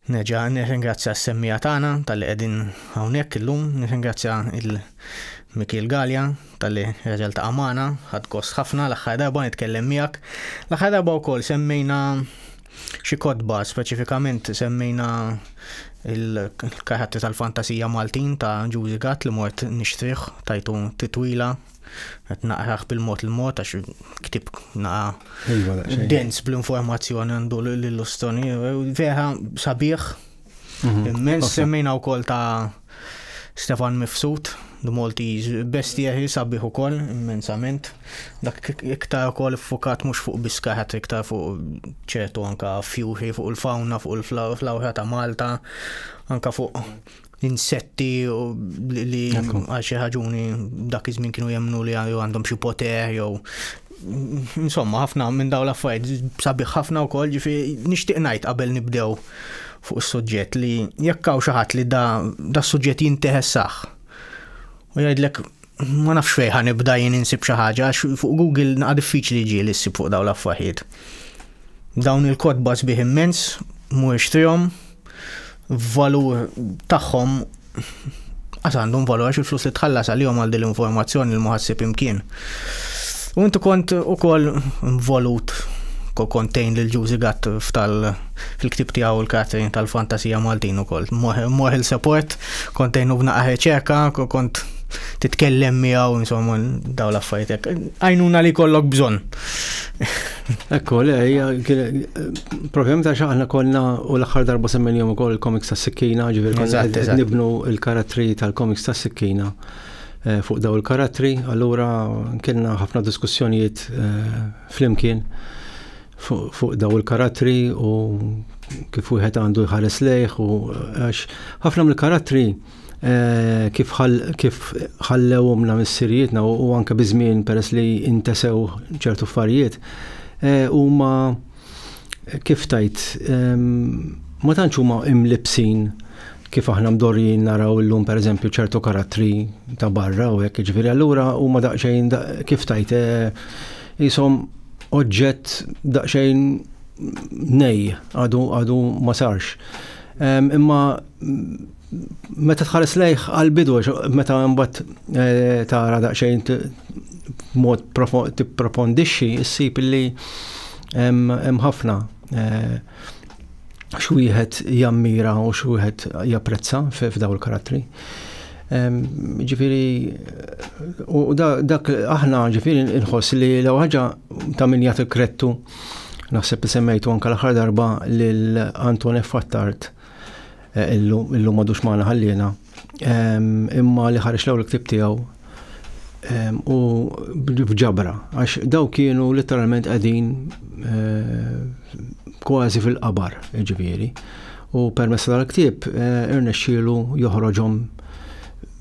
Nerġa' nirringrazzja s-semmiegħa tagħna talli qegħdin hawnhekk illum, nirringrazzja lil Mikiel Galea talli reġa' ltaqa' magħna, ħadt gost ħafna l-aħħar darba nitkellem miegħek. L-aħħar darba wkoll semmejna xi kotba, speċifikament semmejna l-karattri tal-fantasija Maltin ta' Ġużi Gatt li mort nixtrih tajtu titwila Qed naqrah bil-mod il-mod għax ktib naqa iva, dens bl-informazzjoni għandu l-illustoni. Vera sabiħ, mhm. immens semmejna wkoll ta' Stefan Mifsud, The Maltese Bestia hi sabiħ ukoll immensament. Dak iktar ukoll fukat mhux fuq biskaħat iktar fuq ċertu anka fjuri fuq il-fawna, fuq il-flawra ta' Malta, anka fuq insetti li għal xi ħaġuni dak iż-żmien kienu jemnu li għandhom xi poter jew insomma ħafna minn dawn l-affarijiet sabiħ ħafna wkoll ġifi nixtieq ngħid qabel nibdew fuq is-suġġett li jekk hawn xi ħadd li da da suġġett jinteħessaħ u jgħidlek Ma nafx fejn ħa nibda jien insib xi ħaġa għax fuq Google naqa' diffiċli ġieli ssib fuq dawn l-affaħiet. Dawn il-kotba sbieħ immens mhuwiex trihom valur tagħhom għas għandhom valur għax il-flus li tħallas għalihom għal din l-informazzjoni li muħassib imkien. U inti kont ukoll involut kontejn lil Ġużi Gatt fil-ktib tiegħu l-Katrin tal-Fantasija Maltin ukoll. Moħil support, kontejn u b'naqqa ċeka, kont titkellem miegħu insomma daw l-affaritek. Għajnuna li kollok bżonn. Ekku, le, problem ta' xaħna konna u l-axar darba semmen jom ukoll il-komiks ta' sikkina, ġivir konna nibnu il-karattri tal-komiks ta' sikkina eh, fuq daw il-karattri, allura kienna ħafna diskussjonijiet eh, flimkien fuq daw il-karattri u kif wieħed għandu jħares lejh u eh, għax ħafna mill-karattri kif kif ħallewhomna missirijietna u anke biżmien peress li intesew ċertu affarijiet huma kif tajt ma tantx huma imlibsin kif aħna mdorrijin naraw illum pereżempju ċertu karattri ta' barra u hekk ġifieri allura huma daqsxejn kif tajt ishom oġġett daqsxejn nej għadu ma sarx. Imma Meta tħares lejh għal-bidu, meta mbagħad eh, tara daqsxejn mod tipprofondixxi, issib li hemm ħafna eh, xwieħed jammira u xwieħed japprezza f'daw il-karattri. Ġifiri, u dak aħna ġifiri nħoss li l ħaġa ta' min jagħti krettu naħseb li semmejtu anka l-aħħar darba lil Anton F. Fattart illum madux maħna ħallina, imma li ħarġ l-ewwel ktib tiegħu u bġabra, għax daw kienu literalment qegħdin kważi fil-qabar, ġifieri. U permessa tal-ktib irnexxielu joħroġhom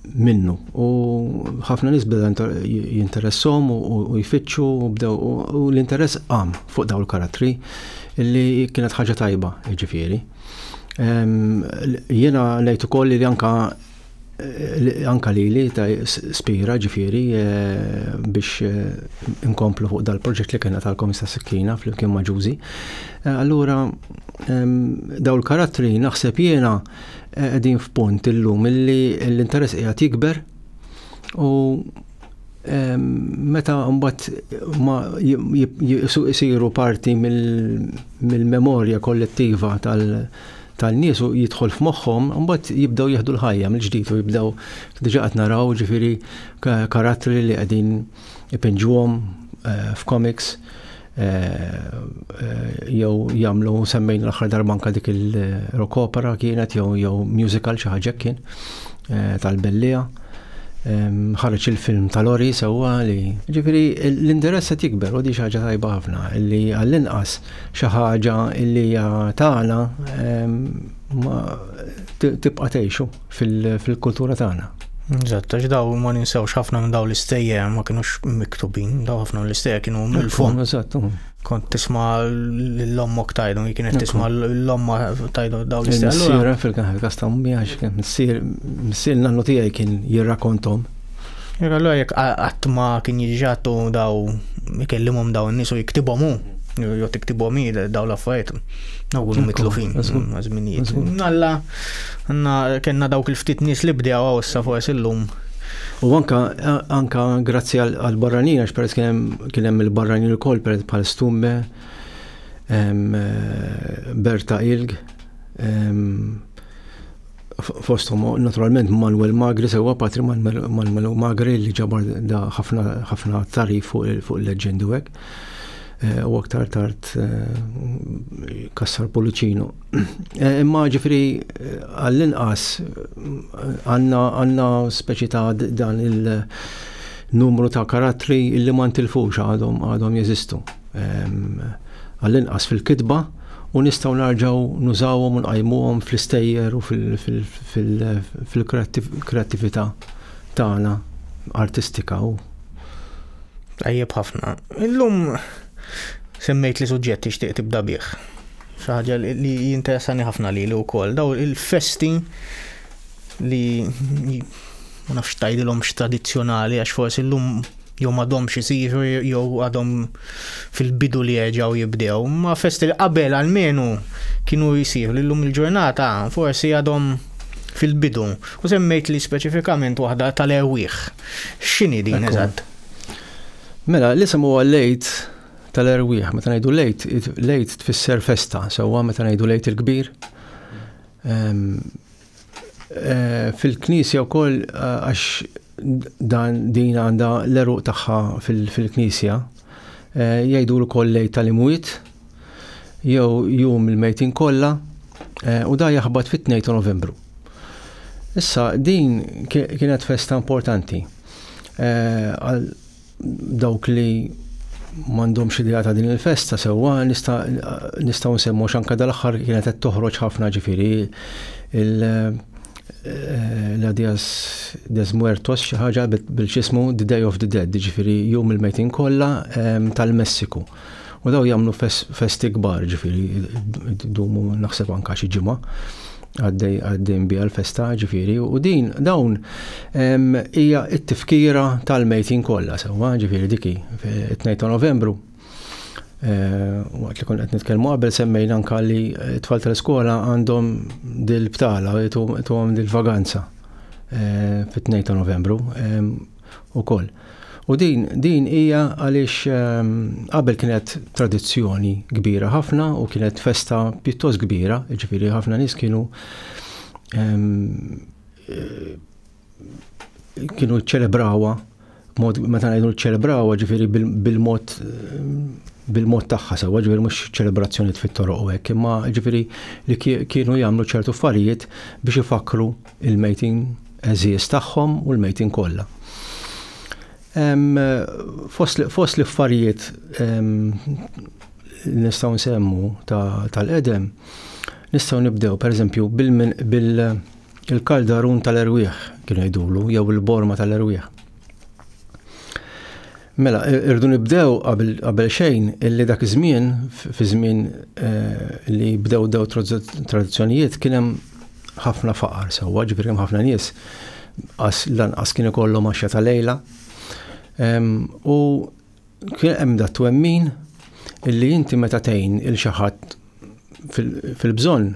minnu. U ħafna nis bdew jinteressom u jfittxu u bdew u l-interess qam fuq daw il-karattri li kienet ħaġa tajba ġifiri. Jena nejt ukoll li anka anka li li ta' spira ġifiri eh, biex eh, inkomplu fuq dal-proġett li kena tal-komista sikkina fl-imkien maġuzi. Eh, allura daw il-karattri naħseb jena qegħdin f'punt illum illi l-interess qiegħed jikber u meta mbagħad ma jisiru parti mill-memorja kollettiva tal-nies u jidħol f'moħħhom, mbagħad jibdew jieħdu l-ħajja mill-ġdid u jibdew diġà qed naraw ġifieri karattri li qegħdin ipinġuhom eh, f'komiks jew jagħmlu semmejn l-aħħar darba anke dik il-rock opera kienet jew jew musical xi ħaġa kien tal-Bellija. Ħareġ il-film tal-Ori sewwa li ġifieri l-interess qed jikber u di xi ħaġa tajba ħafna li għall-inqas xi ħaġa li hija tagħna tibqa' tgħixu. fil-kultura tagħna. Eżatt, għax daw ma ninsewx ħafna minn daw l-istejja ma kienux miktubin, daw ħafna l-istejja kienu mill-fond. Eżatt. Mm. Kont tisma l-ommok tajdu, kienet tisma l-omma tajdu daw l-istejja. Sira fil-kaħal kastam miħax, sir nannu tijaj kien jirrakontom. Jekk allura jekk qatt ma kien jiġġatu daw ikellimhom daw in-nies u jiktibhom hu, jew tiktibhom hi daw l-affarijiet, daw kunu mitlufin żminijiet. Alla għandna kellna dawk il-ftit nies li bdew hawn issa forsi llum. U anka anka grazzi għal barranin għax peress kien hemm il-barranin ukoll peress bħal Stumbe, eh, Berta Ilg, fosthom naturalment Manuel Magri sewwa patri Manuel Magri li ġabar da ħafna tarif fuq il-leġendi u hekk. Eh, u aktar tard eh, kassar Policino. Eh, imma ġifri għall-inqas għanna għanna speċi ta' dan il-numru ta' karattri li ma ntilfux għadhom għadhom jeżistu. Ehm, għall-inqas fil-kitba u nistgħu narġgħu nużawhom u nqajmuhom fl-istejjer u fil-kreattività tagħna artistika u. Tajjeb ħafna. Illum semmejt li suġġett tixtieq tibda bih. Xi ħaġa li jinteressani ħafna lili wkoll daw il-festi li ma nafx tgħidilhom x'tradizzjonali għax forsi llum jew m'għadhomx isiru jew għadhom fil-bidu li jerġgħu jibdew, ma festi li qabel għalmenu kienu jisiru li llum il-ġurnata forsi għadhom fil-bidu. U semmejt li speċifikament waħda tal-erwieħ. X'inhi din eżatt? Mela, l-isem huwa lejt tal-erwieħ, meta ngħidu lejt, lejt tfisser festa, sewwa meta ngħidu lejt il-kbir. Ehm, Eh, fil-knisja wkoll eh, għax dan din għandha l-eruq tagħha fil-knisja eh, jgħidu wkoll lejt tal-imwiet jew jum il-mejtin kollha u da jaħbat fit-2 ta' Novembru. Issa din kienet festa importanti Dawk li m'għandhomx idea ta' din il-festa sewwa nistgħu nsemmu x'anka dal-aħħar kienet qed toħroġ ħafna ġifieri la Dias des Muertos xi ħaġa bil-ġismu The Day of the Dead, ġifieri jum il-mejtin kollha tal-Messiku. U daw jagħmlu festi kbar, ġifieri idumu naħseb anka xi ġimgħa għaddej għaddejn biha l-festa ġifieri u din dawn hija t-tifkira tal-mejtin kollha sewwa ġifieri diki 2 ta' Novembru Eh, waqt li kun qed nitkellmu qabel semmejna anka li eh, tfal tal-iskola għandhom dil-btala, għom dil-vaganza eh, fit-2 ta' novembru. ukoll. U din din hija għaliex ehm, qabel kienet tradizzjoni kbira ħafna u kienet festa pjuttost kbira, ġifieri ħafna nies kienu ehm, eh, kienu ċelebrawa mod meta ngħidu ċelebrawa ġifieri bil-mod bil-mod tagħha sewwa ġifieri mhux ċelebrazzjonijiet fit-toroq u hekk, imma ġifieri li kienu jagħmlu ċertu affarijiet biex ifakkru il-mejtin għeżież tagħhom u l-mejtin kollha. Fost l-affarijiet li nistgħu nsemmu tal-qedem, nistgħu nibdew pereżempju bil-kaldarun tal-erwieħ kienu jgħidulu jew il-borma tal-erwieħ. Mela, irdu nibdew qabel xejn illi dak iż-żmien, fi żmien eh, li bdew dew tradizzjonijiet, kien hemm ħafna faqar sewwa, ġifieri hemm ħafna nies qas lanqas kien ikollhom għaxja ta' lejla. U kien hemm dat twemmin illi inti meta tgħin il xi ħadd fil-bżonn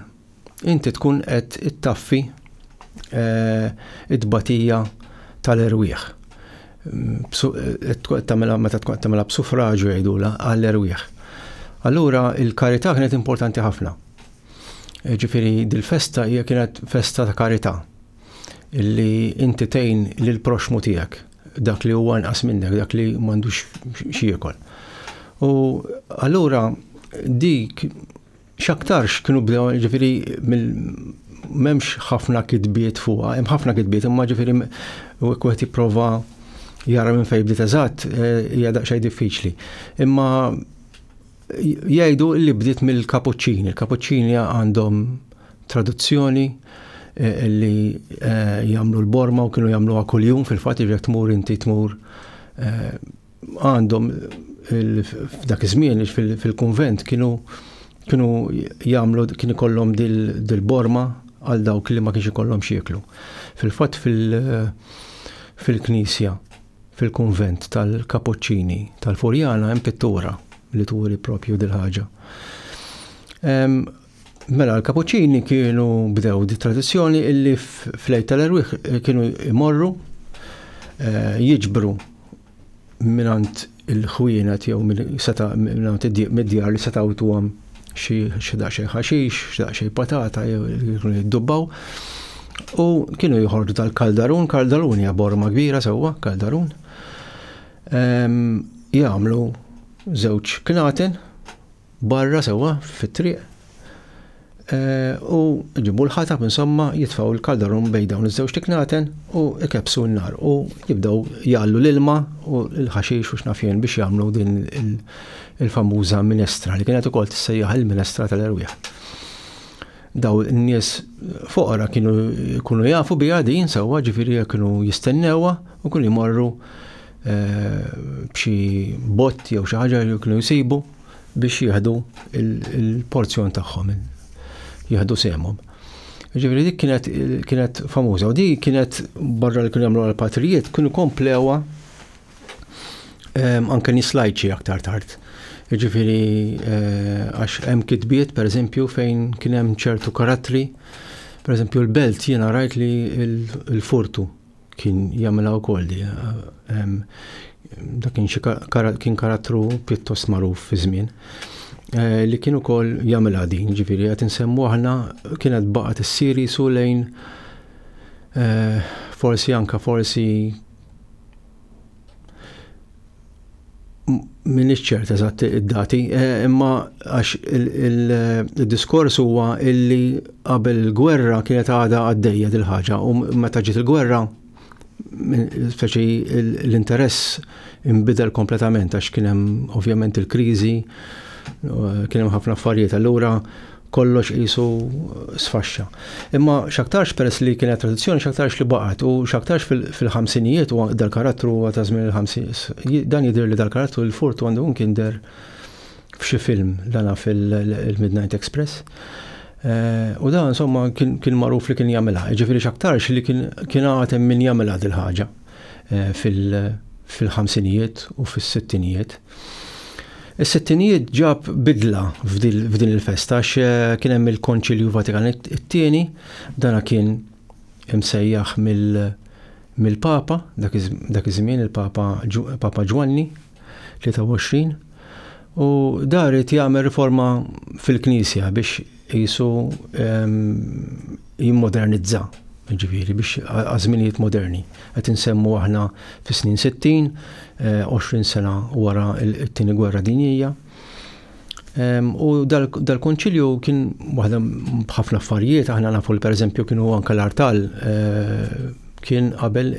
inti tkun qed ittaffi it-tbatija tal-erwieħ. Tagħmilha meta tkun qed tagħmilha b'sufraġu jgħidulha għall-erwieħ. Allura il-karità kienet importanti ħafna. Ġifieri dil-festa hija kienet festa ta' karità illi inti tgħin lill-proxxmu tiegħek dak li huwa inqas minnek, dak li m'għandux xi jiekol. U allura dik X'aktarx kienu bdew ġifieri m'hemmx ħafna kitbiet fuqha, hemm ħafna kitbiet imma ġifieri wieħed jipprova jara minn fejn bdiet eżatt eh, hija daqsxejn diffiċli. Imma jgħidu li bdiet mill-kapuċċini. Il-kapuċċini għandhom traduzzjoni eh, li eh, jagħmlu l-borma u kienu jagħmluha kuljum fil-fatt jekk tmur inti tmur għandhom f'dak iż-żmien fil-kunvent kienu kienu jagħmlu kien ikollhom dil-borma għal dawk li ma kienx ikollhom xieklu. Fil-fatt fil-knisja fil-kunvent tal-Kapuċċini tal-Furjana hemm pittura li turi propju dil-ħaġa. Mela l-Kapuċċini kienu bdew di tradizzjoni illi f'lejt tal-erwieħ kienu jmorru eh, jiġbru minant il-ħwienet jew seta minant mid-djar li setaw tuwam xi daqsxejn ħaxix, xi daqsxejn patata jew jiddubbaw. U kienu jħordu tal-kaldarun, kaldarun hija borma kbira sewwa, kaldarun. Ehm, jagħmlu żewġ knaten barra sewwa fit-triq u ġibu l-ħatab insomma jitfaw il-kaldarum bejn dawn iż-żewġ tiknaten u ikebsu n-nar u jibdew jgħallu l-ilma u l-ħaxix u x'nafjen biex jagħmlu din il-famuża minestra li kienet ukoll tissejjaħ il-minestra tal-erwieħ daw n-nies foqra kienu kunu jafu biha din sewwa ġifieri kienu jistennewa u kienu jmorru b'xi botti jew xi ħaġa li kienu jsibu biex jieħdu il-porzjon tagħhom, jieħdu semhom. Ġifieri dik kienet kienet famuża u dik kienet barra li kien jagħmlu l-patrijiet kienu komplewa ehm, anke nislajċi aktar tard. Ġifieri eh, għax hemm kitbiet pereżempju fejn kien hemm ċertu karattri, pereżempju l-belt jiena rajt li l-furtu Kien jagħmilha wkoll di. Ehm, dak kien xi kien karattru pjuttost magħruf fi żmien eh, li kien ukoll jagħmilha din, ġifieri qed insemmu aħna kienet baqgħet issir jisu lejn eh, forsi anka forsi Min iċċert eżatt id-dati, eh, imma għax il-diskors huwa illi qabel il-gwerra kienet għada għaddejja dil-ħaġa u meta ġiet il-gwerra speċi l-interess imbidel kompletament għax kien hemm ovvjament il-kriżi, eh, kien hemm ħafna affarijiet allura kollox qisu sfaxxa. Imma x'aktarx peress li kienet tradizzjoni x'aktarx li baqgħet u x'aktarx fil-ħamsinijiet u dal-karattru huwa ta' żmien il-ħamsinijiet. Dan jidher li dal-karattru l-furt għandu kien der f'xi film dana fil-Midnight Express. Eh, u dan insomma kien magħruf li kien jagħmilha, ġifieri x'aktarx li kien għatem min jagħmilha dil-ħaġa eh, fil-ħamsinijiet u fis-sittinijiet. Is-sittinijiet ġab bidla f'din il-festa għax eh, kien hemm il-Konċilju Vatikan it-tieni, dana kien imsejjaħ mill-Papa, dak iż-żmien il-Papa Papa Ġwanni 23, u dar irid jagħmel riforma fil-Knisja biex qisu jimmodernizza, ġifieri biex għażminijiet moderni. Qed insemmu aħna fis-snin 60, 20 eh, sena wara t-tieni gwerra dinjija. U dal-konċilju kien waħda b'ħafna affarijiet, aħna nafu li pereżempju kienu anke l-artal eh, kien qabel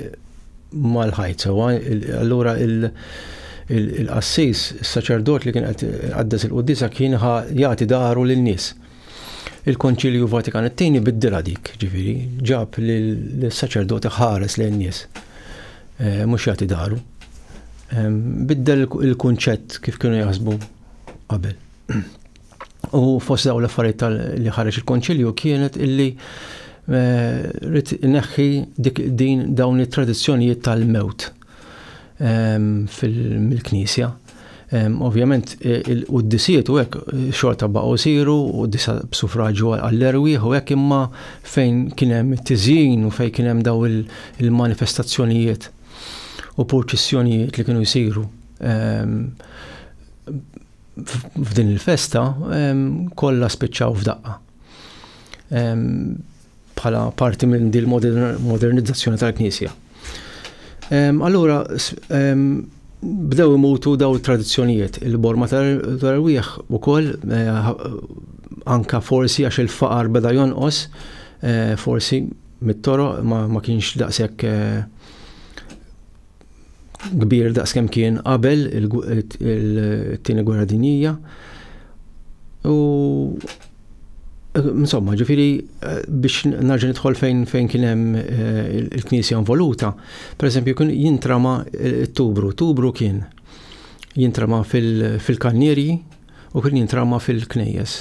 mal-ħajt sewwa. Allura il-qassis, is-saċerdot li kien qed iqaddes il-quddiesa kien ħa jagħti dahru lin-nies. Il-Konċilju Vatikan it-tieni biddilha dik, ġifieri, ġab li l-saċerdot iħares lejn nies, eh, mhux jagħti dahru. Ehm, biddel il-kunċett kif kienu jaħsbu qabel. U fost daw l-affarijiet li ħareġ il-konċilju kienet illi eh, rrit neħħi dik din dawn it-tradizzjonijiet tal-mewt ehm, fil-knisja. Ehm, ovvjament, e, il-quddisiet u hekk e, xorta baqgħu siru u disa b'sufraġu għall-erwieħ u hekk imma fejn kien hemm it-tiżjin u fejn kien hemm daw il-manifestazzjonijiet u purċissjonijiet li kienu jsiru ehm, f'din il-festa kollha spiċċaw f'daqqa. Bħala parti minn din modernizzazzjoni tal-Knisja. Allura, bdew imutu daw tradizzjonijiet. Il-borma tal-rwieħ u koll, eh, anka forsi għax il-faqar beda jonqos, eh, forsi mit-toro ma kienx daqsek eh, kbir daqs kemm kien qabel it-tieni gwerra dinjija. U insomma, ġifiri biex narġa' nidħol fejn fejn kien hemm eh, il-Knisja involuta, pereżempju kien jintrama eh, t-tubru, tubru kien jintrama fil-kannierji u kien jintrama fil-knejjes.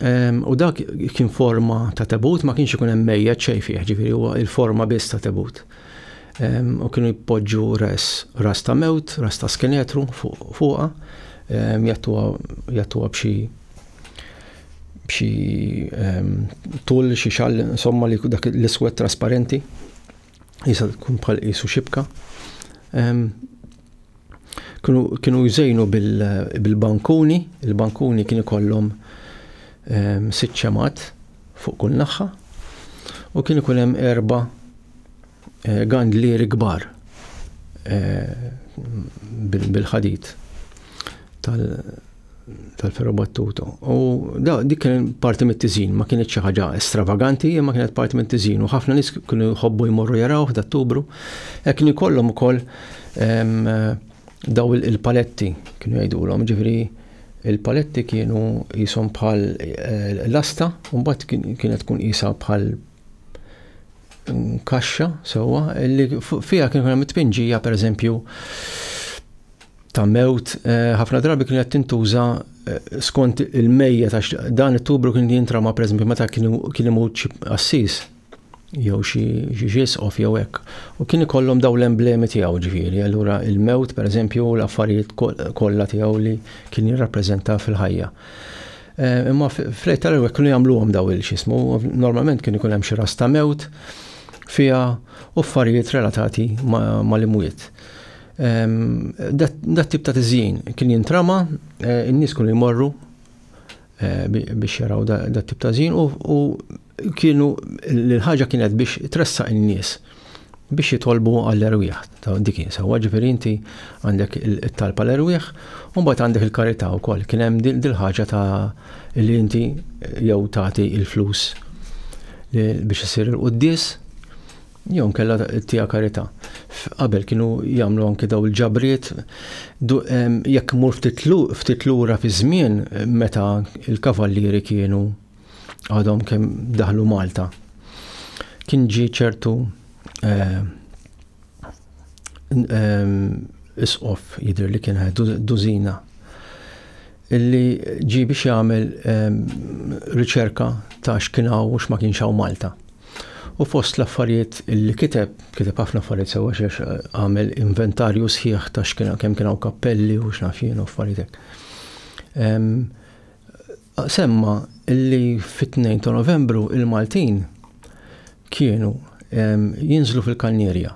Ehm, u dak kien forma ta' tebut, ma kienx ikun hemm mejja ċej fih, ġifiri huwa il-forma biss ta' tebut. u kienu jpoġġu res, ras ta' mewt, ras ta' skenetru fuqha, jattuha b'xi b'xi tul xi xall insomma li dak l-iswed trasparenti jisa tkun bħal qisu xibka. kienu jżejnu bil-bankuni, il-bankuni kien ikollhom ehm, sitt ċemat fuq kull naħħa u kien ikun hemm erba eh, gandlieri kbar eh, bil-ħadid tal-ferrobattuta. U da dik kien parti mit-tiżin, ma kienet xi ħaġa stravaganti, imma kienet parti mit-tiżin u ħafna nies kienu jħobbu jmorru jaraw f'Dattubru. Hekk kienu jkollhom ukoll daw il-paletti kienu jgħidulhom, ġifieri il-paletti kienu jisom bħal eh, lasta, u mbagħad kienet tkun isa bħal mm, kaxxa sewwa li fiha kienu hemm it-tpinġija pereżempju ta' mewt ħafna drabi kienet tintuża skont il-mejja ta' dan it-tubru kien jintrama pereżempju meta kien imut xi assis jew xi ġisqof jew hekk. U kien ikollhom daw l-emblemi tiegħu ġifieri, allura il-mewt pereżempju u l-affarijiet kollha tiegħu li kien jirrappreżenta fil-ħajja. Imma fl tal-ewwel kienu jagħmluhom daw il-xismu, normalment kien ikun hemm xi ras ta' mewt fiha u affarijiet relatati mal-imwiet. Dat tip ta' tiżjin kien jintrama, in-nies kienu jmorru biex jaraw dat tip ta' żjin u kienu l-ħaġa kienet biex tressaq in-nies biex jitolbu għall-erwieħ ta' dik sewa ġifieri inti għandek it-talb għall-erwieħ u mbagħad għandek il-karità wkoll. Kien hemm dil-ħaġa ta' li inti jew tagħti l-flus biex isir il-quddies Jew inkella tija karità. Qabel kienu jagħmlu anki daw il-ġabriet jekk imur ftit lura fi żmien meta l-kavallieri kienu għadhom kemm daħlu Malta. Kien ġie ċertu eh, eh, isqof jidher li kien dużina illi ġie biex jagħmel riċerka ta' x'kien hawn u x'ma kienx hawn Malta. U fost l-affarijiet illi kiteb, kiteb ħafna affarijiet sewwa xiex eh, għamel inventarju sħiħ ta' x'kien kemm kien hawn kappelli u x'naf jien u affarijiet Semma illi fit-2 ta' Novembru il-Maltin kienu jinżlu fil-kannierja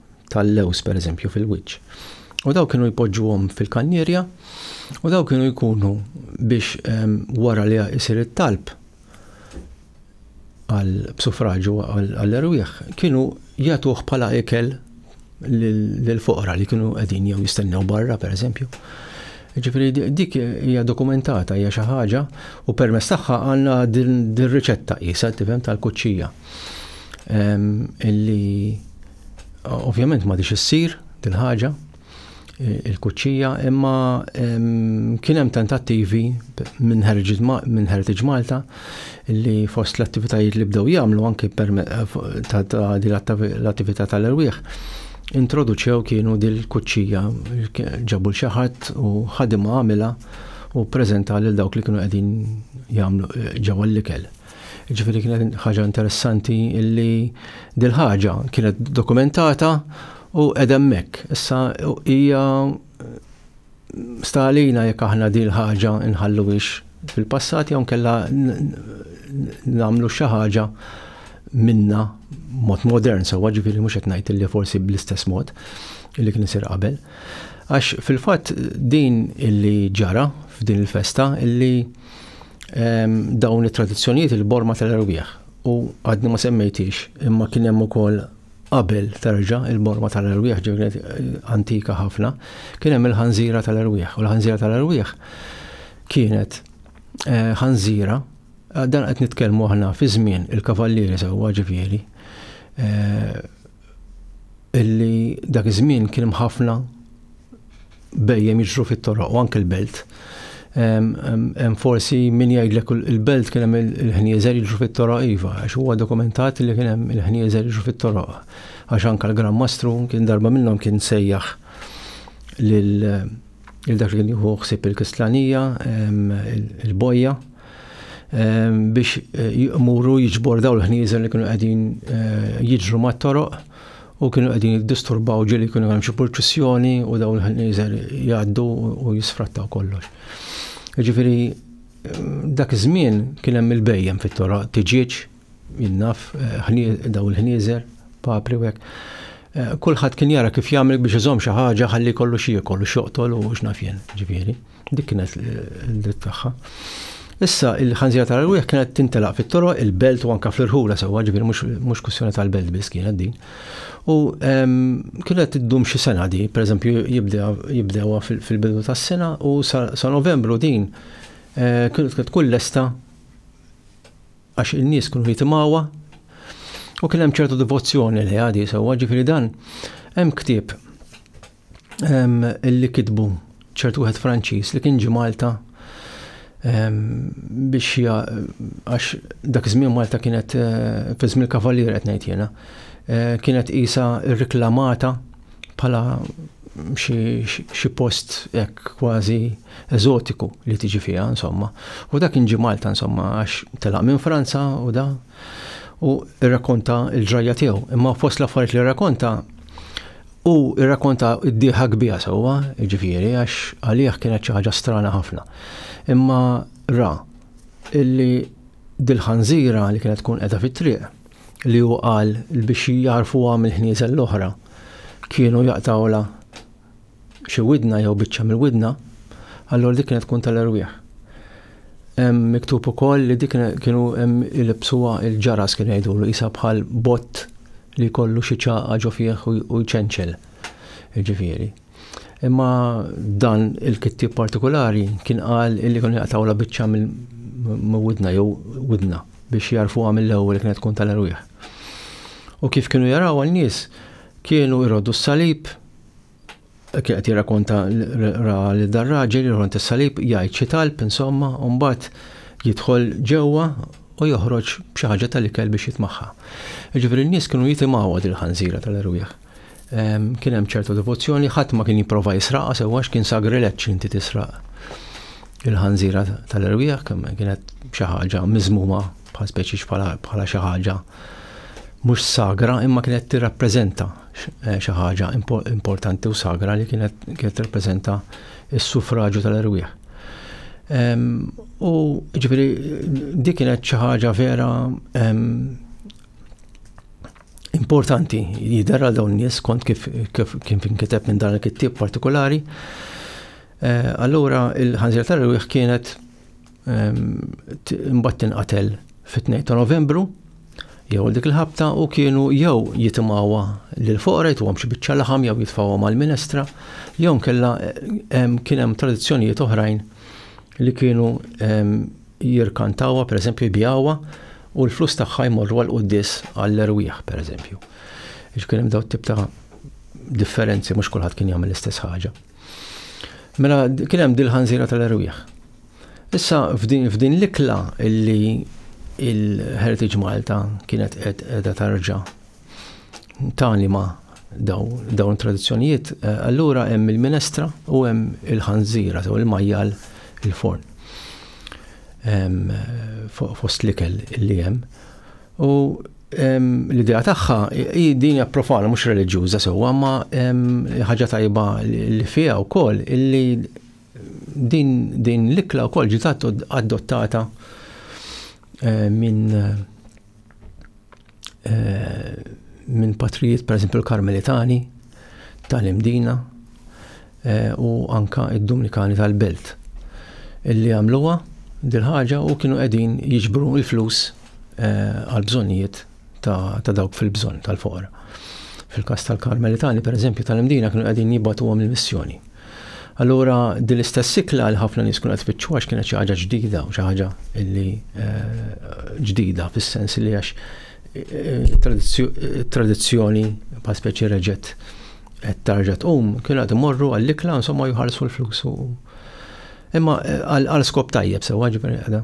tal-lewż pereżempju fil-wiċċ. U daw kienu jpoġġuhom fil-kannierja u daw kienu jkunu biex ehm, wara li jsir it-talb għal b'sufraġu għall-erwieħ kienu jagħtuh bħala ikel lill-foqra li kienu qegħdin jew jistennew barra pereżempju. Ġifri, dik hija dokumentata, hija xi ħaġa u permess tagħha għandna din riċetta qisha tifhem tal-kuċċija. illi ovvjament ma dix issir din ħaġa il-kuċċija imma kien hemm tentattivi minn Heritage Malta li fost l-attivitajiet li bdew jagħmlu anke l-attività tal-erwieħ introduċew kienu dil-kuċċija ġabu l ħadd u ħadimha għamilha u preżenta lil dawk li kienu qegħdin jagħmlu ġewwa l-ikel. Ġifieri kienet ħaġa interessanti illi dil-ħaġa kienet dokumentata u edemmek. Issa hija stalina jekk aħna din ħaġa nħalluwix fil-passat jew kella nagħmlu xi ħaġa minna mod modern sewwa ġifieri mhux qed ngħid li forsi bl-istess mod li kien isir qabel. Għax fil-fatt din illi ġara f'din il-festa illi ehm, dawn it-tradizzjonijiet il-borma tal-erwieħ u għadni ma semmejtix imma kien hemm ukoll qabel terġa il-borma tal-erwieħ ġivnet antika ħafna, kien hemm il-ħanżira tal-erwieħ. U l-ħanżira tal-erwieħ kienet eh, ħanżira, eh, dan qed nitkellmu aħna fi żmien il-kavallieri sewwa ġifieri, eh, illi dak iż-żmien kien ħafna bejjem jiġru fit-toroq u anke l-belt. Hemm forsi min jgħidlek il-belt kien hemm il-ħnieżer jiġru fit-toroq iva, għax huwa dokumentat li kien hemm il-ħnieżer jiġru fit-toroq. Għax anke l-Gran Mastru kien darba minnhom kien sejjaħ lil dak li kien jieħu ħsieb il-Kistlanija, il-bojja, biex jmuru jiġbor daw l-ħnieżer li kienu qegħdin eh, jiġru mat-toroq u kienu qegħdin jiddisturbaw ġieli kienu hemm xi purċissjoni u dawn il-ħnieżer jgħaddu u jisfrattaw kollox. Ġifieri dak iż-żmien kien hemm il-bejjem fit-tora tiġieġ jinnaf eh, daw il-ħnieżer papri u hekk. Eh, kulħadd kien jara kif jagħmel biex iżomm xi ħaġa ħalli kollu xi jekol u xoqtol u x'naf jien, ġifieri. Dik kienet l-dritt tagħha. Issa il-ħanżira tal-rwieħ kienet tintelaq fit-toro, il-belt u anka fl-irħula sewwa, ġifieri mhux kwistjoni tal-belt biss kienet din. U ehm, kienet tiddum xi sena di, pereżempju jibdewha fil-bidu tas-sena u sa Novembru din eh, kienet tkun lesta għax in-nies kienu jitimgħuha u kien hemm ċertu devozzjoni li għadi sewwa, ġifieri dan hemm ktieb li kitbu ċert wieħed Franċiż li kien ġi Malta biex għax dak iż-żmien Malta kienet eh, fi żmien kavalier qed ngħid jiena, eh, kienet qisha rreklamata bħala xi post hekk kważi eżotiku li tiġi fiha insomma. U dak kien ġi Malta insomma għax telaq minn Franza u da u rrakkonta l-ġrajja tiegħu. Imma fost l-affarijiet li rrakkonta U rrakkonta d-dieħa kbira sewwa, ġifieri, għax għalih kienet xi ħaġa strana ħafna. Imma ra illi dil-ħanżira li kienet tkun qiegħda fit-triq li hu qal biex jarfuha mill-ħnieżel l-oħra kienu jaqtawla xi widna jew biċċa mill-widna, allura dik kienet tkun tal-erwieħ. Hemm miktub ukoll li dik kienu hemm ilibsuha il-ġaras kien jgħidulu isa bħal bott li jkollu xi ċaqa ġo fih u jċenċel. Ġifieri. Imma dan il-kittib partikolari kien qal illi kun jaqtawla biċċa minn widna jew widna biex jarfuha mill-ewwel kienet tkun tal-erwieħ. U kif kienu jaraw għal nies kienu jroddu s-salib kien qed jirrakonta ra li dar raġel jirħon tis-salib jgħid xi talb insomma u mbagħad jidħol ġewwa u joħroġ b'xi ħaġa tal-ikel biex jitmaħħa. Ġifieri n-nies kienu jitimgħu għad il-ħanżira tal-erwieħ. Ehm, kien hemm ċertu devozzjoni, ħadd ma kien jipprova jisraqha sewwa x'kien sagrileġġ inti tisraq il-ħanżira tal-erwieħ kemm kienet xi ħaġa miżmuma bħal speċi bħala xi ħaġa mhux sagra imma kienet tirrappreżenta xi ħaġa importanti u sagra li kienet kienet tirrappreżenta s-suffraġju tal-erwieħ. U ġifieri dik kienet xi ħaġa vera importanti jidher għal dawn nies kont kif kif kien kiteb minn dan il-kittieb partikolari. Eh, allura il-ħanżir tal-erwieħ kienet Imbagħad tinqatel fit-2 ta' Novembru jew dik il-ħabta u kienu jew jitimgħuha lil foqra jtuhom xi biċċa laħam jew jitfgħuhom għall-minestra jew nkella kien hemm tradizzjonijiet oħrajn li kienu jirkantawha pereżempju jbijawha u l-flus tagħha jmorru għal qudies għall-erwieħ pereżempju. Ix kien hemm daw tip ta' differenzi mhux kulħadd kien jagħmel l-istess ħaġa. Mela kien hemm dil-ħanżira tal-erwieħ. Issa f'din f'din l-ikla illi il-Heritage Malta kienet qiegħda tarġa' talima daw dawn tradizzjonijiet, eh, allura hemm il-minestra u hemm il-ħanżira sew il-majjal il-forn. Fost l-ikel li hemm. U l-idea tagħha hi din hija profana mhux reliġjuża sewwa, ma ħaġa tajba li fiha wkoll illi Din l-ikla wkoll ġiet adottata eh, minn eh, minn patrijiet, per esempio, l-Karmelitani tal-Imdina eh, u anka id-Dominikani tal-Belt illi għamluwa dil-ħaġa u kienu qegħdin jiġbru l-flus għal bżonnijiet ta' dawk fil-bżonn tal-foqra. Fil-każ tal-Karmelitani, per eżempju, tal-imdina kienu qegħdin jibatuhom il-missjoni. Allura, din l-istess sikla li ħafna nies kienu qed tfittxu għax kienet xi ħaġa ġdida u xi ħaġa li eh, ġdida fis-sens li għax eh, tradizzjoni pa' speċi reġet qed tarġa tqum kienu qed imorru għall-ikla insomma jħarsu l-flus. Imma eh, għal skop tajjeb sewa ġifieri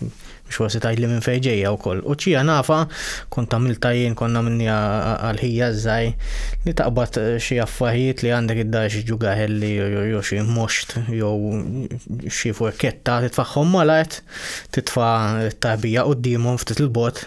Mhux forsi tgħidli minn fejn ġejja wkoll. U ċija nafa kont għamilta jien konna minni għal-ħija żgħaj li taqbad eh, xi affarijiet li għandek id-dar xi ġugaħelli jew xi moxt jew xi furketta titfagħhom malajt titfa' t-tarbija qudiemhom ftit il-bot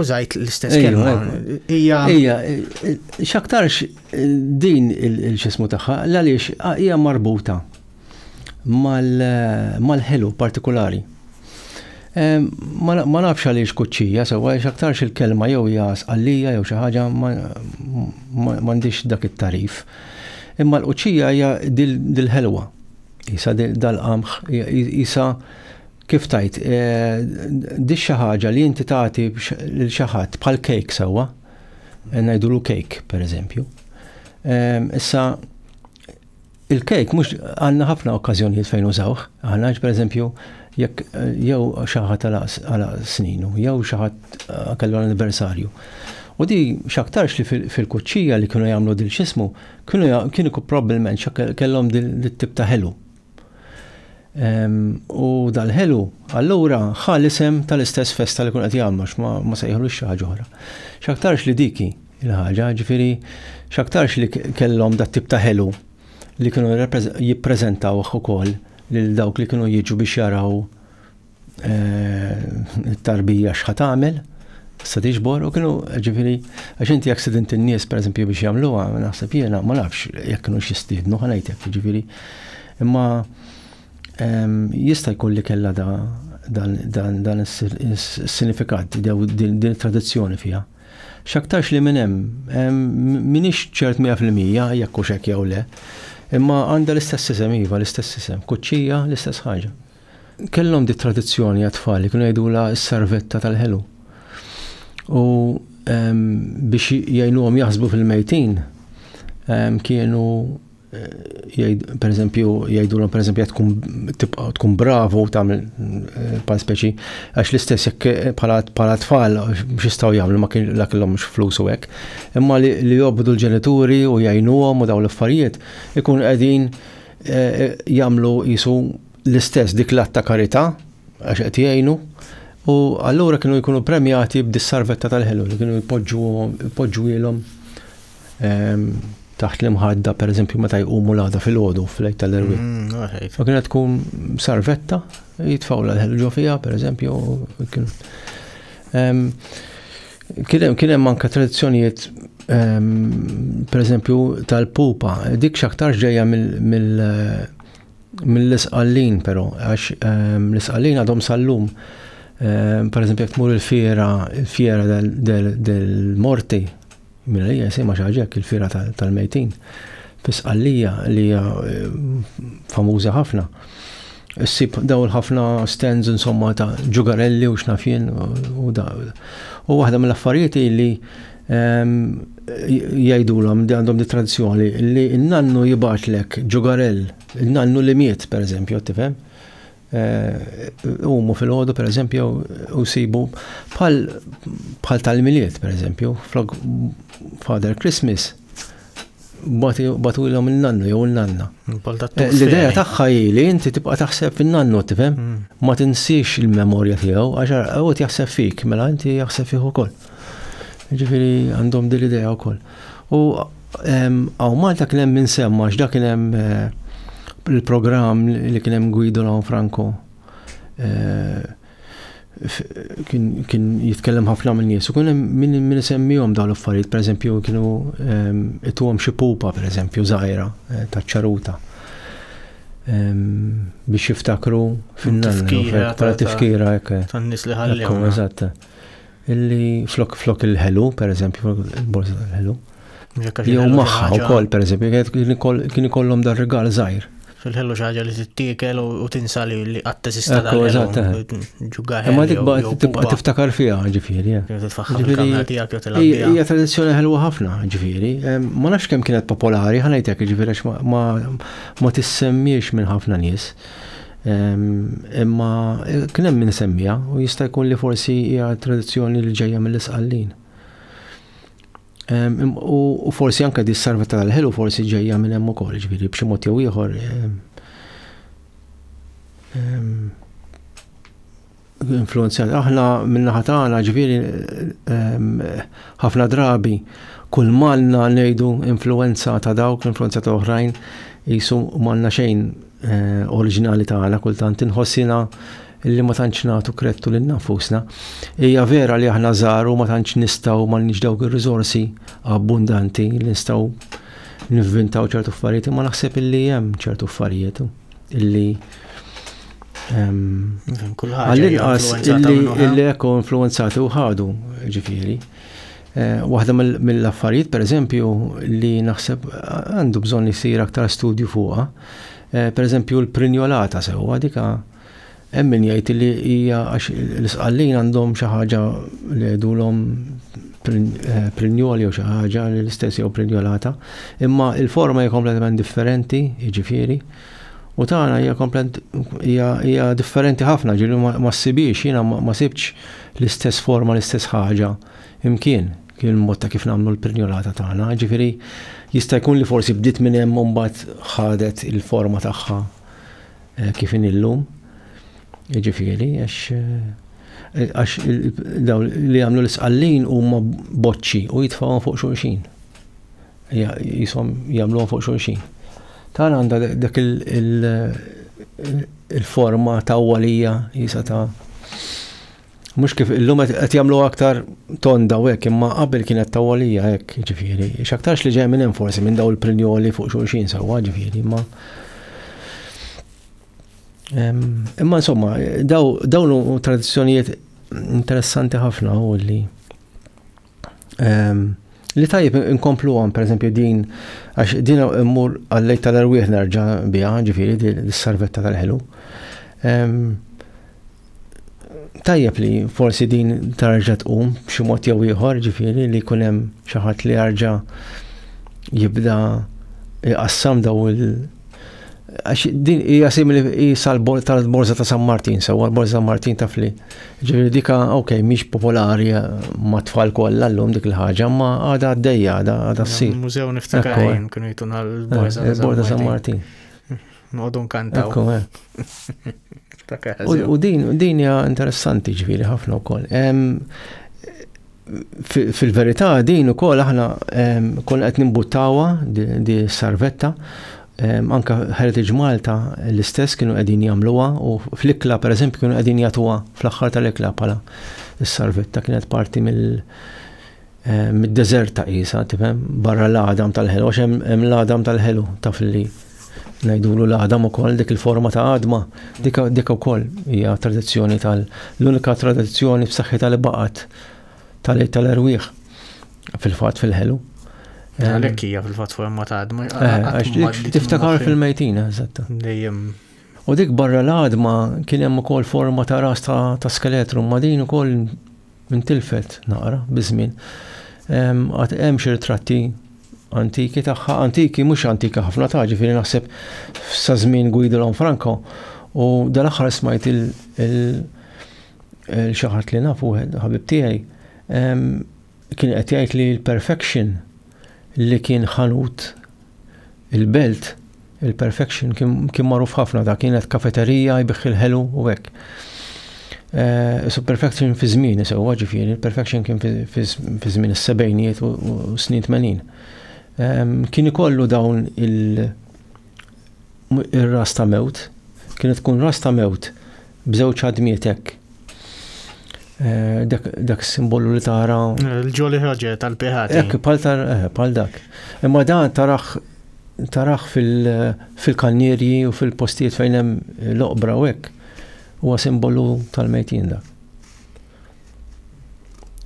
Użajt l-istess kelma. Hija. Hija, x'aktarx din il-xismu tagħha, għaliex hija marbuta mal-ħelu partikolari. Ma nafx għaliex kuċċija, sewa x'aktarx il-kelma jew hija sqallija jew xi ħaġa m'għandix dak it-tarif. Imma l-kuċċija hija dil-ħelwa. Isa dal-qamħ, isa Kif tgħid, di xi ħaġa li inti tagħti lil xi ħadd bħal kejk sewwa, ngħidulu kejk pereżempju. Issa il-kejk mhux għandna ħafna okkażjonijiet fejn użawh, aħna pereżempju jekk jew xi ħadd għal sninu, jew xi ħadd kellu l-anniversarju. U di x'aktarx li fil-kuċċija li kienu jagħmlu dil x'ismu, kienu probbilment kellhom dit-tip ta' ħelu. U dal-ħelu, allura ħa l-isem tal-istess festa li kun qed jagħmlu ma sejħlu xi ħaġa oħra. X'aktarx li diki il-ħaġa, ġifieri x'aktarx li kellhom dat tip ta' ħelu li kienu jippreżentaw ukoll lil dawk li kienu jiġu biex jaraw eh, tarbija xħat għamil, sa tiġbor u kienu ġifiri, għax inti jek sidint il-nies per eżempju biex jamluwa, naħseb jena, ma nafx jek kienu xistidnu ħanajtek ġifiri. Imma ehm, jista jkun li kella da dan is-sinifikat, din tradizzjoni fija. Xaktarx li minn hemm, ehm, minix ċert 100% jekk u xek jew le, imma għandha l-istess isem iva, l-istess isem, kuċċija, l-istess ħaġa. Kellhom di tradizzjoni għat-tfal li kienu jgħidulha s-sarvetta tal-ħelu. U ehm, biex jgħinuhom jaħsbu fil-mejtin, ehm, kienu eh, per eżempju, jgħidulhom per eżempju tkun tibqa' tkun bravu tagħmel eh, bħal speċi għax l-istess jekk eh, bħala tfal x'istgħu jagħmlu ma kien la kellhom flus u hekk. Imma li jobdu l-ġenituri u jgħinuhom u dawn l-affarijiet ikun qegħdin Eh, eh, jamlu jisu l-istess dik l-att ta' karità għax qed jgħinu u allura kienu jkunu premjati b'dis-sarvetta tal-ħelu li kienu jpoġġuhom ehm, taħt l-imħadda, per eżempju, meta jqumu l-għada fil-ħodu fl-lejt tal-erwi. Mm, ma kienet tkun sarvetta, jitfaw l-ħelu ġo fija, per eżempju. Ehm, kien hemm anke tradizzjonijiet ehm, per eżempju tal-pupa, dik xaktar ġejja mill- mill-isqallin però, għax ehm, l-isqallin għadhom sal-lum. Ehm, per eżempju, jek tmur il-fiera, il-fiera del-morti, minn li jisima xaġek il-fiera tal-mejtin, fis-qallija li hija ehm, famuża ħafna. Sib daw ħafna stands insomma ta' ġugarelli u xnafjen u da. U waħda mill-affarijiet li jgħidulhom li għandhom di tradizzjoni li n-nannu jibatlek ġugarell, n-nannu li miet, per eżempju, tifhem? Eh, umu fil-ħodu, per eżempju, u sibu bħal tal-miliet, per eżempju, flok Father Christmas, batu il nannu jew il-nanna. Eh, l-ideja tagħha li inti tibqa' taħseb fin-nannu tifhem, mm. ma tinsiex il-memorja tiegħu għax għawet jaħseb fik, mela inti jaħseb fih ukoll. Ġifiri għandhom din l-idea wkoll. U għaw Malta kien hemm insemma x'da kien hemm eh, il-programm li kien hemm Guido Lawn Franco. Eh, kien jitkellem ħafna minn nies u kien hemm min isemmihom dawn l-affarijiet, pereżempju kienu ituhom xi pupa pereżempju żgħira eh, ta' ċaruta biex jiftakru fin-nanna. Tifkira, tifkira, Tan-nies li ħallihom. Eżatt. illi flok flok il-ħelu, per eżempju, il-borza tal-ħelu. Jew maħħa u kol, per eżempju, kien ikollhom dar regal zaħir. Fil-ħelu xaġa li t-tiekel u tinsa li li għatta sista tal ġugaħel. Ma tibqa tibqa tiftakar fija ġifiri. Hija tradizjoni ħelwa ħafna ġifiri. Ma nafx kemm kienet popolari, ħanajtek ġifiri ma tissemmiex minn ħafna nies. Imma kien hemm min semmija u jista' jkun li forsi hija tradizzjoni li ġejja mill-isqallin. U forsi anke di sarva tal-ħelu forsi ġejja minn hemm ukoll, ġifieri b'xi mod jew ieħor. influenzjati. Aħna minnaħa tagħna ġifieri ħafna drabi kull manna ngħidu influenza ta' dawk, influenza ta' oħrajn, jisu manna xejn eh, oriġinali tagħna kultant inħossina li ma tantx nagħtu krettu lil nafusna. Hija vera li aħna żaru ma tantx nistgħu ma nix dawk ir-riżorsi abbundanti li nistgħu nivvintaw ċertu affarijiet, ma naħseb illi hemm ċertu affarijiet. Illi għall-inqas illi ekku influenzati u ħadu ġifiri. Eh, waħda mill-affarijiet, per eżempju, li naħseb għandu bżon jisir aktar studju fuqa, eh, per eżempju l-prinjolata sewa dika Hemm min jgħid li hija għax l-isqallin għandhom xi ħaġa li jgħidulhom eh, prinjol jew xi ħaġa li l-istess jew prinjolata, imma il-forma hija kompletament differenti, jiġifieri, u tagħna hija komplent hija differenti ħafna, ġieli ma ssibiex jiena ma sibx l-istess forma l-istess ħaġa imkien kien mod ta' kif nagħmlu l-prinjolata tagħna, ġifieri jista' jkun li forsi bdiet minn hemm mbagħad ħadet il-forma tagħha Kif inhi llum, jiġifieri, għax dawn li jagħmlu l-isqallin huma boċċi u jitfgħuhom fuq xulxin. Jisom jagħmluhom fuq xulxin. Tan għandha dak il-forma ta' walija jisa ta' Mhux kif illum qed jagħmlu aktar tonda u hekk, imma qabel kienet tawolija hekk, ġifieri. X'aktarx li ġej minn hemm forsi minn daw il-prinjoli fuq xulxin sewwa, ġifieri, imma. Imma insomma, dawn tradizzjonijiet interessanti ħafna u li Li tajjeb inkomplu għom, per eżempju, din, għax din immur għallej tal-erwieħ nerġa bija, ġifiri, dis-sarvetta tal-ħelu. Tajjeb li forsi din tarġa tqum b'xi mod jew ieħor, ġifiri, li jkun hemm xi ħadd li jarġa jibda jqassam daw il- Għax din hija simili hija tal-Borza ta' San Martin, sewwa l-Borza San Martin taf li. Ġifieri dika ok, mhix popolari eh, ma' tfal kollha llum dik il-ħaġa, ma għadha għaddejja, għadha ssir. Mużew niftakar eh. kienu jtuna l-Borza eh, ta' San Martin. Nodu nkantaw. U din hija interessanti ġifieri ħafna wkoll. Fil-verità din ukoll aħna konna qed nimbuttawha di sarvetta anka Heritage Malta l-istess kienu qegħdin jagħmluha u fl-ikla pereżempju kienu qegħdin jagħtuha fl-aħħar tal-ikla bħala s-sarvetta kienet parti mill mid-deżert ta' qisha tifhem barra l-għadam tal-ħelu għax hemm l-għadam tal-ħelu taf li ngħidulu l-għadam ukoll dik il-forma ta' għadma, dik ukoll hija tradizzjoni tal l-unika tradizzjoni f'saħħitha li baqgħet tal-għid tal-erwieħ fil-fatt fil-ħelu. Għalhekk hija fil-fatt forma ta' għadma. Eh, tiftakar fil-mejtina, eżatt. Dejjem. U dik barra l-għadma kien hemm ukoll forma ta' ras ta' skeletru, ma din ukoll Intilfet naqra biż-żmien. Għad hemm xi ritratti antiki tagħha, antiki mhux antika ħafna ta' ġifieri naħseb sa żmien Guido Lanfranco u dal-aħħar smajt il xaħat li nafu ħabib tiegħi kien qed jgħid li l-perfection li kien ħanut il-belt il-perfection kien magħruf ħafna da kienet kafeterija jbiħ il-ħelu u hekk. Eh, so perfection fi żmien sewwa ġifieri, perfection kien fi żmien is-sebgħinijiet u snin 80. Ehm, kien ikollu dawn il-ras ta' mewt, kienet tkun ras ta' mewt b'żewġ ħadmiet hekk. Eh, dak simbolu li tara. Eh, Il-ġoli ħroġe tal-piħat. Hekk eh. pal tar pal dak. Imma dan tarax tarax fil-kannierji u fil-postijiet fejn hemm l-oqbra u hekk. Huwa simbolu tal-mejtin dak.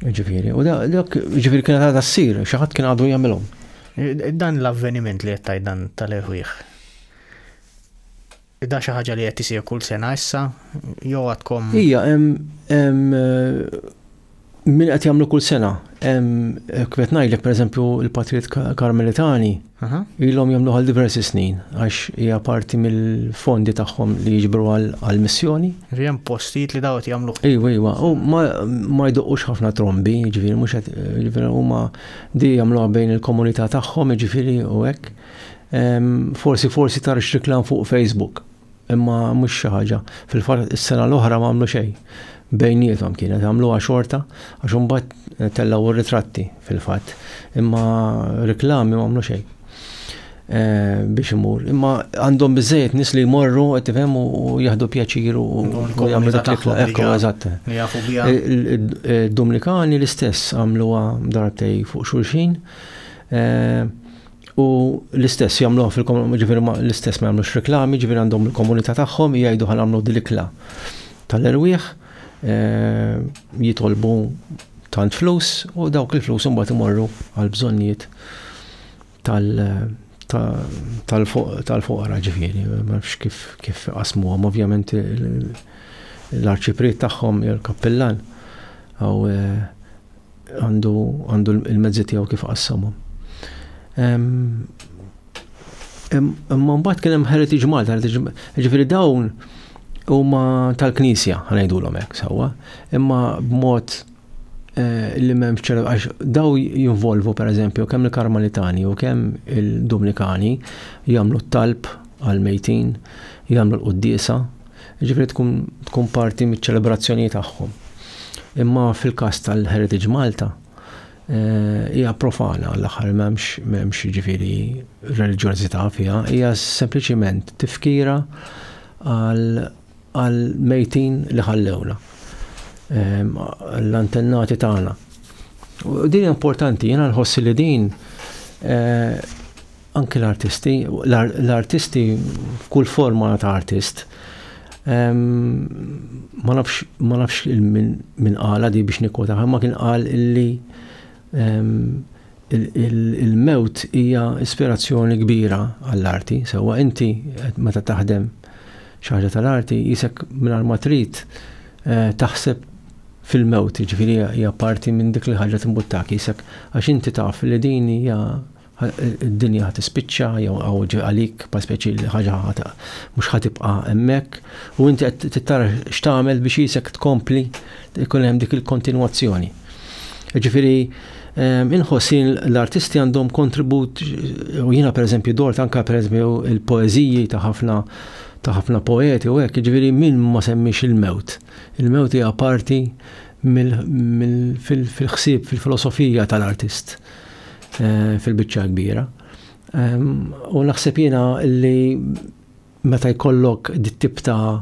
Ġifieri, u dak ġifieri kien għadha ssir, xi ħadd kien għadu jagħmilhom. Dan l-avveniment li qed dan tal-eħwieħ Da xi ħaġa li qed isir kull sena issa jew għadkom? Ija, hemm min qed jagħmlu kull sena. Hemm kif ngħidlek pereżempju l-Patrijiet Karmelitani ilhom jagħmlu għal diversi snin għax hija parti mill-fondi tagħhom li jiġbru għal missjoni. Hemm postijiet li dawt jagħmlu. Ejwa, ejwa, u ma jdoqqux ħafna trombi, jiġifieri mhux qed jiġifieri huma di jagħmluha bejn il-komunità tagħhom jiġifieri u hekk. Forsi forsi tar xriklan fuq Facebook, imma mhux xi ħaġa. Fil-fatt is-sena l-oħra ma għamlu xejn. Bejnietom kienet għamluha xorta għax imbagħad tellgħu r-ritratti fil-fatt, imma reklami ma għamlu xejn eh, biex imur. Imma għandhom biżejjed nis li jmorru qed tifhem u jieħdu pjaċir u jagħmlu dak l-ikla. Ekku, eżatt. Dominikani l-istess għamluha darbtej fuq xulxin. Eh, U l-istess jagħmluha fil-komunità, ġifieri l-istess ma jagħmlux reklami, ġifieri għandhom il-komunità tagħhom jgħidu ħan għamlu dil-ikla tal-erwieħ, eh, jitolbu tant flus u dawk il-flus imbagħad imorru għal bżonnijiet tal-foqra ġifieri, ma nafx kif kif qasmuhom ovvjament l-arċipriet tagħhom jew l-kappillan għaw eh, għandu għandu l-mezzi tiegħu kif qassamhom. Imma mbagħad kien hemm Heritage Malta, ġifieri dawn huma tal-Knisja, ħanejdulhom hekk sewwa, imma b'mod eh, li m'hemm ċertu għax daw jinvolvu pereżempju kemm il-Karmalitani u kemm il-Dominikani jagħmlu t-talb għal-mejtin, jagħmlu l-qudiesa, Jiġifieri tkun tkun parti miċ-ċelebrazzjoni tagħhom. Imma fil-każ tal-Heritage Malta eh, hija e, profana l-aħħar m'hemmx m'hemmx jiġifieri reliġjożità fiha, hija sempliċiment tifkira għal mejtin li ħallewna. Eh, l-antennati tagħna. Din importanti, jiena nħossi li din eh, Anki l-artisti, l-artisti f'kull forma ta' artist, ma nafx ma nafx minn qala di biex nikkwota, ma kien qal illi il-mewt hija ispirazzjoni kbira għall-arti, sewwa inti meta taħdem xi ħaġa tal-arti jisek mingħajr ma trid eh, taħseb fil-mewt, ġifieri hija parti minn dik li ħaġa timbuttak jisek għax inti taf li din hija Id-dinja ħa tispiċċa jew għaw ġej għalik pa speċi li ħaġa ħata mhux ħa tibqa' hemmhekk u inti qed tittar x'tagħmel biex isek tkompli ikun hemm dik il-kontinwazzjoni. Ġifieri ehm, inħossin l-artisti għandhom kontribut u jiena pereżempju dort anke pereżempju il-poeżiji ta' ħafna ta' ħafna poeti u hekk, ġifieri min ma semmix il-mewt. Il-mewt hija parti fil-ħsieb, fil-filosofija tal-artist. fil-biċċa l-kbira. U naħseb jiena li meta jkollok dit-tip ta'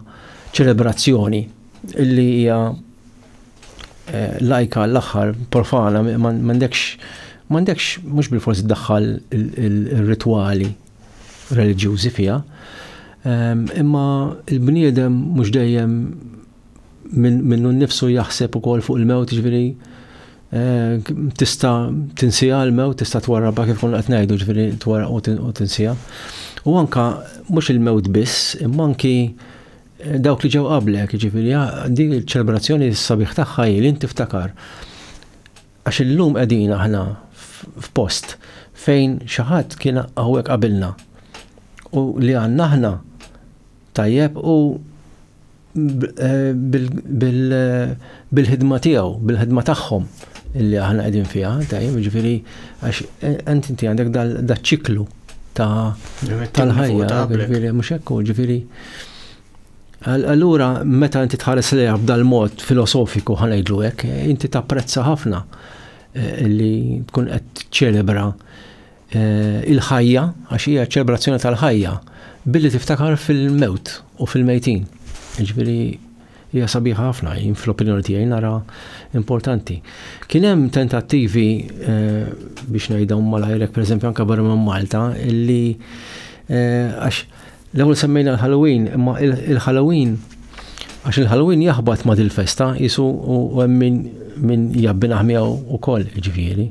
ċelebrazzjoni li hija eh, lajka l-aħħar profana m'għandekx m'għandekx mhux bil-forsi daħħal ir-ritwali reliġjużi fiha, imma l-bniedem mhux dejjem minnu nnifsu jaħseb ukoll fuq il-mewt, ġifieri eh, tista' tinsija l-mewt, tista' twarrabha kif konna qed ngħidu, ġifieri twarraq u tinsija. U anka mhux il-mewt biss, imma anki eh, dawk li ġew qablek, ġifieri ah, din il-ċelebrazzjoni sabiħ tagħha li tiftakar. Għax illum qegħdin aħna f'post fejn xi ħadd kien hawnhekk qabilna. U li għandna aħna tajjeb u bil-ħidma tiegħu, bil-ħidma tagħhom illi aħna qegħdin fiha, tajjeb, ġifieri għax ent inti għandek dal-ċiklu ta' tal-ħajja, ġifieri mhux hekk ġifieri. Allura meta inti tħares lejha b'dal mod filosofiku ħanejdlu hekk, inti tapprezza ħafna eh, li tkun qed ċelebra eh, il-ħajja, għax hija ċelebrazzjoni tal-ħajja, billi tiftakar fil-mewt u fil-mejtin. Ġifieri hija sabiħa ħafna, jien fl-opinjoni tiegħi nara importanti. Kien hemm tentattivi eh, biex ngħidhom malajrek pereżempju anke barra minn Malta illi eh, għax l-ewwel semmejna l-Halloween, imma il-Halloween Għax il-Halloween jaħbat ma dil-festa jisu u hemm min jabbinaħ miegħu wkoll ġifieri.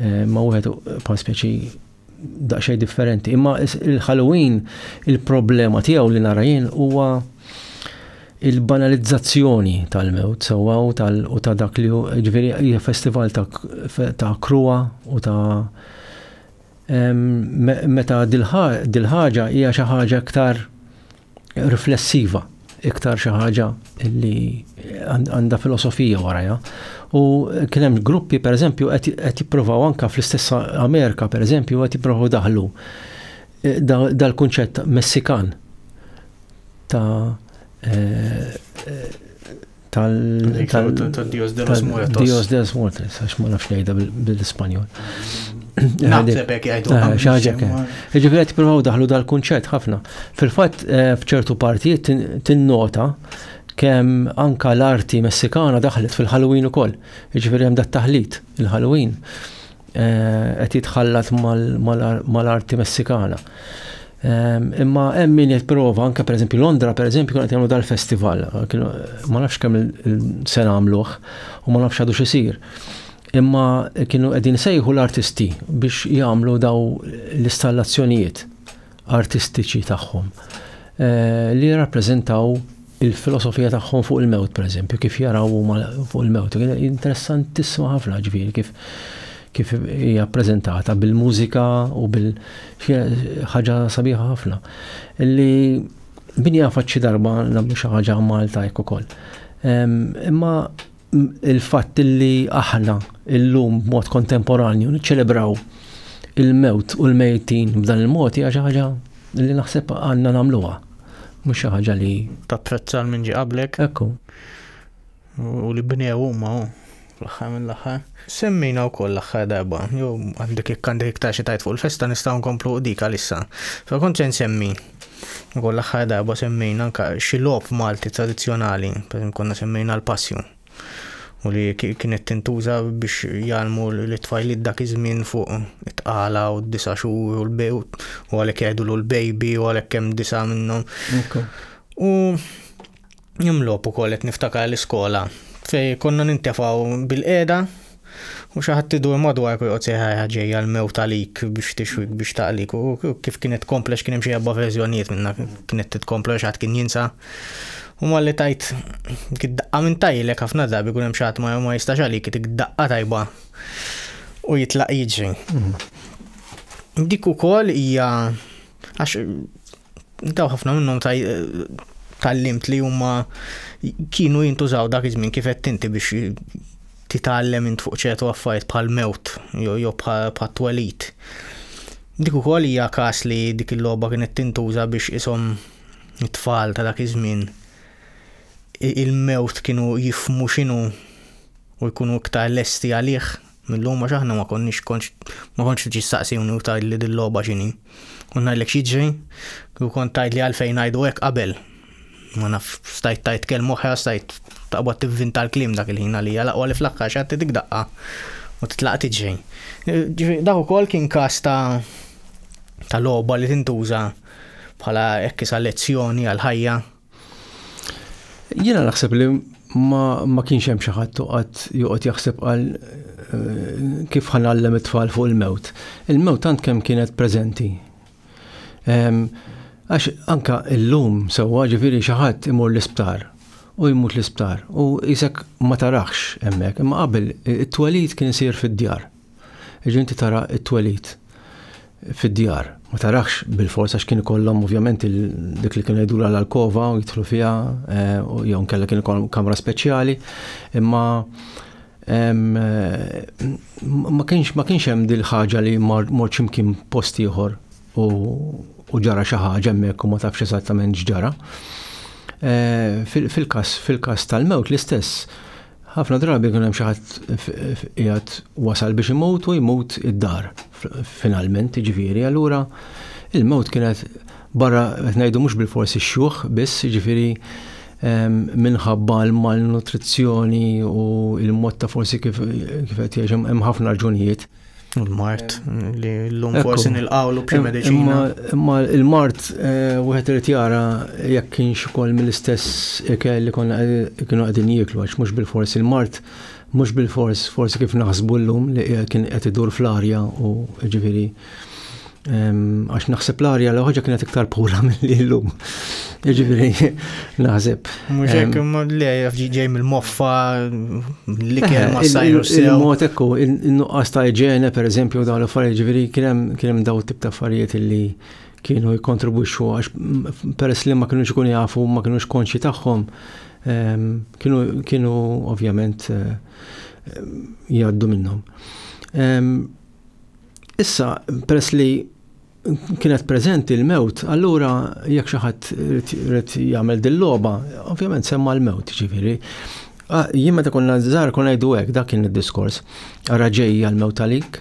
Eh, ma wieħed pa speċi daqsxejn differenti. Imma il-Halloween il-problema tiegħu li nara jien huwa il-banalizzazzjoni tal-mewt sewwa u tal u ta' dak li ġifieri hija festival ta' krua u ta' meta dil-ħaġa hija xi ħaġa aktar riflessiva iktar xi ħaġa li għandha filosofija warajha. U kien hemm gruppi pereżempju qed jippruvaw anke fl-istess Amerika pereżempju qed jippruvaw daħlu eh, dal-kunċett Messikan ta' eh, tal-Dios de los Muertos. Dios de los Muertos, għax ma nafx jgħidha bil-Ispanjol. Naħseb hekk jgħidu. Ah, Xaġa kemm. Jiġifieri qed jippruvaw daħlu dal-kunċett ħafna. Fil-fatt eh, f'ċertu partijiet tinnota kemm anka l-arti Messikana daħlet fil-Halloween ukoll. Jiġifieri hemm dat-taħlit il-Halloween. Eh, qed jitħallat mal-arti Messikana. Ehm, imma hemm min jipprova anke pereżempju Londra pereżempju kienet jagħmlu dal-festival, ma nafx kemm il-sena għamluh u ma nafx għadu xisir. Imma kienu qegħdin sejħu l-artisti biex jagħmlu daw l-istallazzjonijiet artistiċi tagħhom li jirrappreżentaw il-filosofija tagħhom fuq il-mewt, pereżempju, kif jaraw huma fuq il-mewt. Interessantissima ħafna ġifieri kif kif hija ppreżentata bil-mużika u bil ħaġa sabiħa ħafna. Li min jafat xi darba nagħmlu xi ħaġa Malta jekk ukoll. Imma il-fatt li aħna illum b'mod kontemporanju niċċelebraw il-mewt u l-mejtin b'dan il-mod hija xi ħaġa li naħseb għandna nagħmluha. Mhux xi ħaġa li tapprezza minn ġi qablek. Ekku. U li bnew huma fl-aħħar mill-aħħar. Semmina wkoll l-aħħar darba, jew għandek jekk għandek iktar xi tajt fuq il-festa nistgħu nkomplu dik għalissa. Fa kont se nsemmi Ukoll l-aħħar darba semmejna anke xi logħob Malti tradizzjonali, pereżempju konna semmejna l-passju u li kienet tintuża biex jgħallmu l-tfajliet dak iż-żmien fuq it-tqala u d-disa' xhur u l-bej u għalhekk jgħidulu l-bejbi u għalhekk hemm disa' minnhom. U Hemm logħob ukoll qed niftakar l-iskola fej konna nintefgħu bil-qiegħda u xi ħadd idur madwark u joqgħod seħħajha ġejja l-mewt għalik biex tixwik biex taqlik u kif kienet tkompla x'kien hemm xi erba' verżjonijiet minna kienet titkompla xi ħadd kien jinsa. U malli tajt daqqa minn tajlek ħafna drabi kun hemm xi ħadd ma jistax għalik dik daqqa tajba u jitlaq jiġri. Mhm. Dik ukoll hija Għax daw ħafna minnhom tal-limt li huma kienu jintużaw dak iż-żmien kif qed tinti biex titgħallem int fuq ċertu affarijiet bħal mewt jew bħal twelit. Dik ukoll hija każ li dik il-logħba kienet tintuża biex ishom it-tfal ta' dak iż-żmien il-mewt kienu jifmu x'inhu u jkunu iktar lesti għalih Mil-lum għax aħna ma konniex konx ma kontx tiġi staqsini u tgħidli dil-logħba x'inhi. U ngħidlek x'jiġri u kont tgħidli għalfejn ngħidu hekk qabel. Ma naf stajt tajt kelm oħra stajt taqbad tivvinta l-kliem dak il-ħin għalija laqwa li fl-aħħar xi dik daqqa u titlaq tiġri. Ġifieri dak ukoll kien każ ta' ta' logħba li tintuża bħala hekk isa lezzjoni għal ħajja Jiena naħseb li ma, ma kienx hemm xi ħadd toqgħod joqgħod jaħseb għal eh, kif ħanallem it-tfal fuq il-mewt. Il-mewt tant kemm kienet preżenti. Ehm, għax anka illum sewwa ġifieri xi ħadd imur l-isptar u jmut l-isptar u jisek ma tarax hemmhekk, imma qabel it-twelid kien isir fid-djar. Jiġifieri inti tara t-twelid fid-djar. Ma tarax bil-fors għax kien ikollhom ovvjament dik li kienu jgħidulha l-alkova u jidħlu fiha eh, jew nkella kien ikollhom kamra speċjali, imma eh, ma kienx ma kienx hemm dil ħaġa li mort x'imkien post ieħor u ġara xi ħaġa hemmhekk u ma tafx eżattament x'ġara. Eh, fil-każ fil-każ tal-mewt l-istess Ħafna drabi jkun hemm xi ħadd qiegħed wasal biex imut u jmut id-dar finalment, ġifieri, allura il-mewt kienet barra qed ngħidu mhux bil-forsi x-xjuħ biss, ġifieri ehm, minħabba l-malnutrizzjoni u l-mod ta' forsi kif qed jgħix hemm ħafna raġunijiet. U l-mart, li l-lum Ekku. forsi nilqawlu b'xi Im- mediċina. Imma, imma il-mart eh, wieħed irid jara jekk kienx ukoll mill-istess ikel li konna qed- kienu qegħdin jieklu għax mhux bil-fors il-mart mhux bil-fors forsi kif naħsbu llum li qiegħed- kien qed idur fl-arja u ġifieri Għax naħseb l-arja l ħoġa kienet iktar pura mill-li l-lum. Ġifiri, naħseb. Muxek, ma li ġej mill-moffa, li kien eh, ma sajru sew. Il-mot ekku, il-nuqqas ta' iġene, per eżempju, dawn l-affarijiet, ġifiri, kienem daw tip ta' affarijiet li kienu jikontribuxu, għax peress li ma kienu ikun jafu, ma kienu konxi tagħhom, kienu ovvjament eh, jgħaddu minnhom. Issa, peress li kienet preżenti l-mewt, allura jekk xi ħadd irid jagħmel dil-logħba, ovvjament semma l-mewt, ġifieri. Ah, jien meta konna żgħar konna ngħidu hekk, dak kien id-diskors. Ara ġejja l-mewt għalik.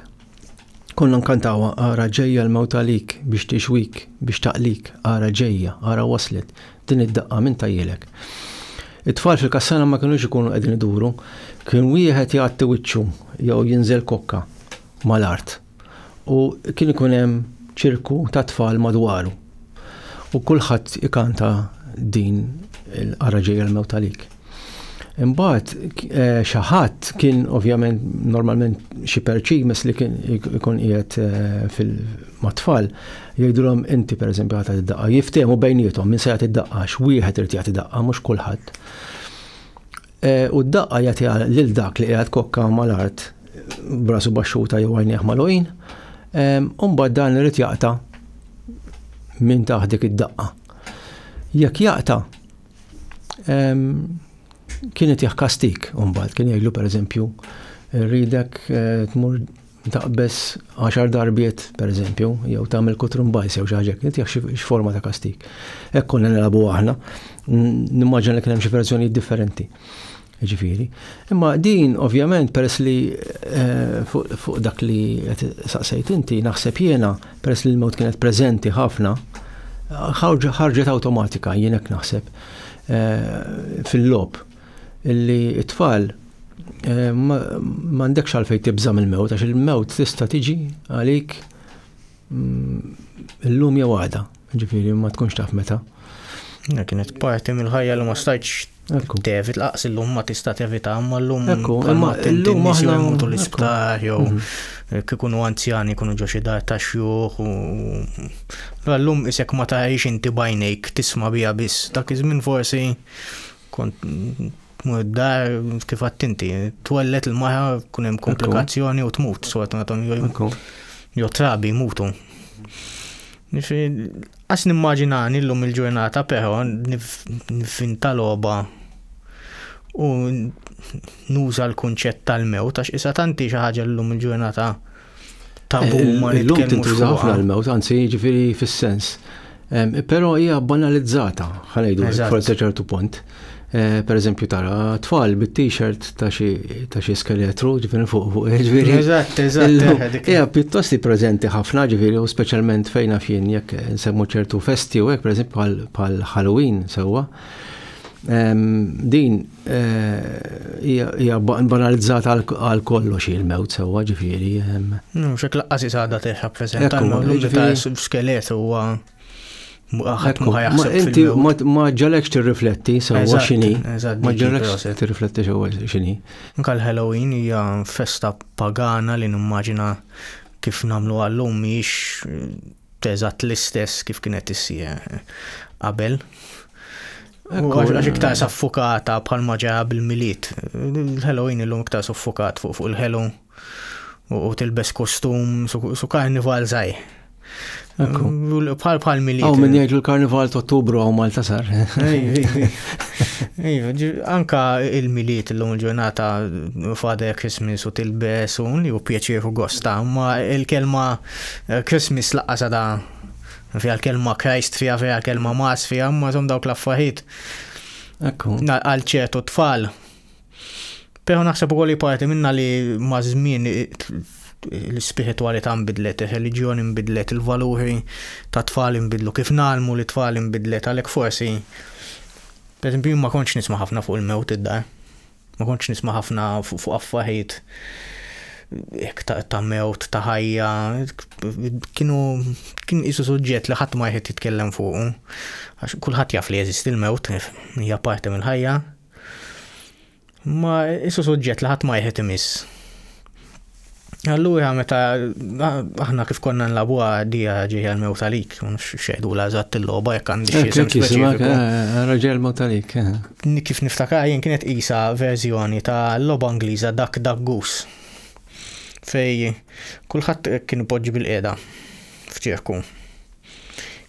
Konna nkantawa ara ġejja l-mewt għalik biex tixwik, biex taqlik, ara ġejja, ara waslet, din id-daqqa minn tajjilek. It-tfal fil-kassana ma kienux ikunu qegħdin iduru, kien wieħed jgħatti wiċċu jew jinżel kokka. mal-art u kien ikun hemm ċirku ta' tfal madwaru. U kulħadd ikanta din il-qara ġejja l-mewt għalik. Imbagħad eh, xi ħadd kien ovvjament normalment xi perċi mess li kien ikun qiegħed eh, fil-matfal jgħidulhom inti pereżempju ħadd id-daqqa jiftehmu bejniethom min se jagħti id-daqqa x'wieħed irid jagħti daqqa mhux kulħadd. E, u d-daqqa jagħtiha lil dak li qiegħed kokka mal-art brasu baxxuta jew għajnieh malojn. Umbagħad dan irid jaqta' minn taħt dik id-daqqa. Jekk jaqta' kienet jaħ kastik umbagħad kien jgħidlu pereżempju rridek eh, tmur taqbeż għaxar darbiet, per eżempju, jew tagħmel kutrum bajs jew xi ħaġa, qed jaħx x'forma ta' kastik. Hekk konna nilagħbu aħna, nimmaġina li kien hemm xi verżjonijiet differenti. Ġifieri. Imma din, ovvjament, peress li eh, fuq dak li saqsejt inti, naħseb jiena, peress li l-mod kienet preżenti ħafna, ħarġet awtomatika jien hekk naħseb eh, fil-lob. illi t-tfal m'għandekx għalfejn tibża' mill-mewt għax il-mewt tista' tiġi għalik mm, illum jew għada, ġifieri ma tkunx taf meta. Kienet parti mill-ħajja li ma stajtx tevit laqs illum ma tista' tevita imma llum imma llum aħna mutu l-isptar jew mhm. kikunu anzjani kunu ġo xi dar ta' xjuħ u llum isek ma tarix inti bajnejk tisma' biha biss dak iż-żmien forsi Kont tmur id-dar kif għadt inti, twellet il-mara kun hemm komplikazzjoni u tmut, sfortunatament jo trabi mutu. Għas nimmaġinani l-lum il-ġurnata però nifin tal-oba u nuża l-kunċett tal-mew, tax isa tanti xi ħaġa l-lum il-ġurnata tabu eh, ma Illum tintuża ħafna l-mewt, anzi jiġifieri fis-sens. Però hija banalizzata, ħanejdu forse ċertu punt. Eh, per eżempju tara tfal bit-t-shirt ta' xi skeletru ġifieri fuq fuq eh, ġifieri. Eżatt, eżatt. Eh, hija pjuttost preżenti ħafna ġifieri u speċjalment fejn fien jekk nsemmu ċertu festi u hekk pereżempju bħal Halloween sewwa. Din Hija banalizzata għal kollox il-mewt sewwa ġifieri. Xek laqqas isada texa preżent tal-mewt ta' skelet huwa ħadd ma jaħseb. Inti ma ġalekx tirrifletti sewwa x'inhi. Ma ġalekx tirrifletti sewwa x'inhi. Nkal Halloween hija festa pagana li nimmaġina kif nagħmlu għallum mhix teżatt l-istess kif kienet issir qabel. Għax iktar saffukata bħal maġa bil-miliet. Il-Halloween illum iktar suffukat fuq fuq il-Halloween u tilbes kostum su karnival zaħi. Bħal bħal miliet. Għaw minn jgħidu l-karnival ta' ottubru għaw Malta sar. Anka il-miliet l-lum ġurnata fada Christmas u tilbes u li u pjaċir u gosta, ma il-kelma eh, Christmas laqqa sada Fiha l-kelma Christ, fiha fiha l-kelma Mas, fiha ma zom dawk l-affarijiet. Ekku. Għal ċertu tfal. Pero naħseb ukoll li parti minna li ma' żmien l-spiritualità nbidlet, il-reliġjoni nbidlet, il-valuri ta' tfal nbidlu, kif nalmu li tfal nbidlet, għalhekk forsi. Per ma kontx nisma' ħafna fuq il-mewt id-dar. Ma kontx nisma' ħafna fuq affaħit hekk ta' mewt, ta' ħajja, kienu kien isu suġġett li ħadd ma jħed jitkellem fuqu. Għax kulħadd jaf li jeżisti l-mewt, hija parti mill-ħajja. Ma isu suġġett li ħadd ma jħed imiss. Allura meta aħna kif konna nlabuha dija ġejja l-mew talik, xejdu la eżatt il-logħba jekk għandi xi isem speċifiku. Eh, raġel mew talik. Eh. Kif niftakar jien kienet qisha verżjoni ta' logħba Ingliża dak dak gus. Fej kulħadd kien poġġi bil-qiegħda f'ċirku.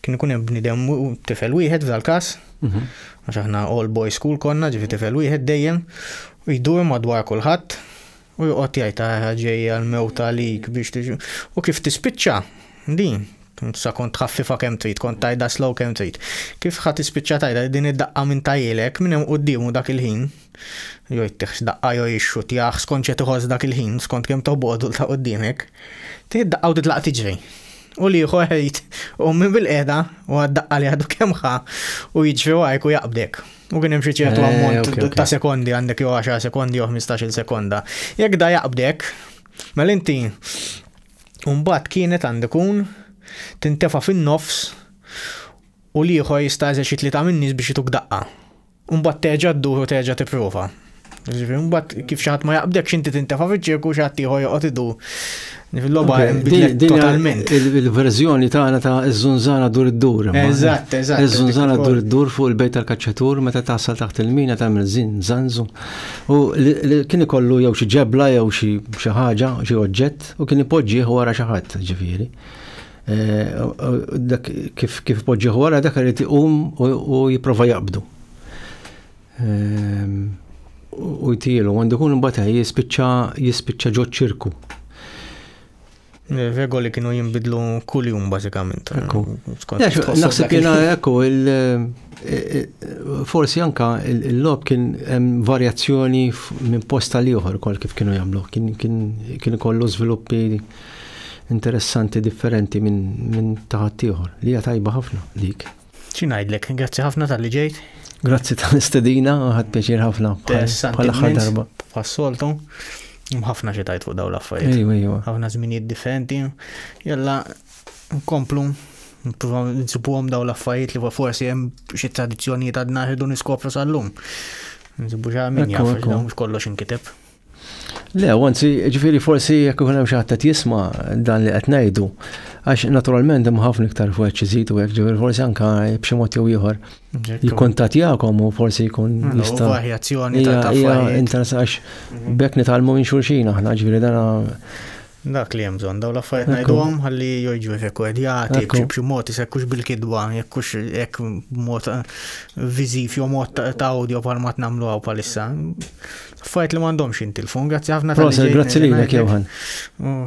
Kien ikun hemm bnidem tifel wieħed f'dal każ, mhm. għax aħna all boy school konna ġifi tifel wieħed dejjem, jdur madwar kulħadd U joqgħod jgħid ah, ġejja l-mewt għalik biex tiġi. U kif tispiċċa din? Sa kont tħaffifa kemm trid, kont tajda slow kemm trid. Kif ħa tispiċċa tajda din id-daqqa minn tajilek minn hemm quddiemu dak il-ħin. Jo jittiħx daqqa jo jixxut jaħ skont ċe tiħoss dak il-ħin, skont kemm toħbodu ta' quddiemek. Tieħ daqqa u titlaq tiġri. U li ieħor ħejt u minn bil-qeda u għad-daqqa li għadu kemm ħa u jiġri għajk u jaqbdek. U kien hemm xi ċertu eh, ammont ta' sekondi għandek jew 10 sekondi jew 15-il sekonda. Jekk da jaqbdek, mela inti mbagħad kienet għandek kun tintefa' fin-nofs u l-ieħor jista' eżerċit li ta' minnis biex jituk daqqa. Mbagħad terġa' ddur u terġa' tipprova. Ġifiri, mbatt kif xaħat ma jaqbdek xinti tintefa fiċ-ċirku xaħat tiħu joqot idu. Fil-loba totalment. Il-verżjoni tagħna ta' iż-żunzana dur id-dur. Eżatt, eżatt. Iż-żunzana dur id-dur fuq il-bejt tal-kaċċatur meta tasal taħt il-mina tagħmel żin żanżu. U kien ikollu jew xi ġebla jew xi ħaġa, xi oġġett u kien ipoġġih wara xi ħadd ġifieri. Eh, dak kif poġġieħ wara dak irid iqum u jipprova jaqbdu. u jtielu, għandu kun imbagħad jispiċċa jispiċċa ġo ċirku. Regoli kienu jinbidlu kull jum bażikament. Ekku. Naħseb jiena ekku forsi anka l-lob kien hemm varjazzjoni minn posta li oħor kol kif kienu jagħmlu. Kien kollu żviluppi interessanti differenti minn taħat ieħor li hija tajba ħafna dik. Xi ngħidlek, grazzi ħafna tal-li ġejt. Grazzi tal-istedina, ħadd pjaċir ħafna. Bħal aħħar darba. Bħas-soltu. Mħafna xi tajt fuq dawn l-affarijiet. Ejwa, ejwa. Ħafna żminijiet differenti. Jalla, nkomplu nsibuhom daw l-affarijiet li forsi hemm xi tradizzjonijiet għadna ħedu niskopru sal-lum. Nsibu ġa minn jaf, kollox inkiteb. Le, anzi, ġifiri forsi jekk ikun hemm xi ħadd qed jisma' dan li qed ngħidu, għax naturalment hemm ħafna iktar fuq ċiżitu hekk ġifiri forsi anka b'xi mod jew ieħor jikkontattjakom u forsi jkun jista' varjazzjoni ta' affarijiet. għax mhm. bekk nitalmu minn xulxin aħna ġifiri dana Dak li hemm bżonn dawn l-affarijiet ngħidhom ħalli joġġu rekordjati b'xi mod isekkux bil-kidba jekkux hekk mod eh, viżiv jew mod ta' audio bħal ma tnamlu hawn palissa. Fajt li m'għandhomx jintilfu, grazzi ħafna. Proset, grazzi lilek Johan.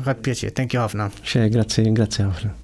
Ħadd pjaċir, thank you ħafna. Xe, grazzi, grazzi ħafna.